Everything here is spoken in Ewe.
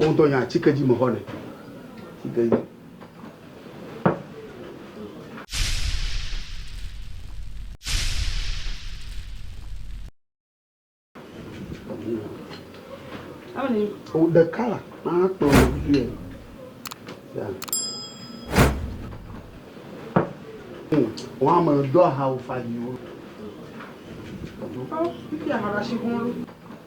Wodɔ nya atike dzi mexɔ nɛ. Atike dzi. O ɖeka la akplɔ vie. Ya. Wọ́n ame dɔ aha ofa yiwo. Ɔ, fífi ahara si kún ló.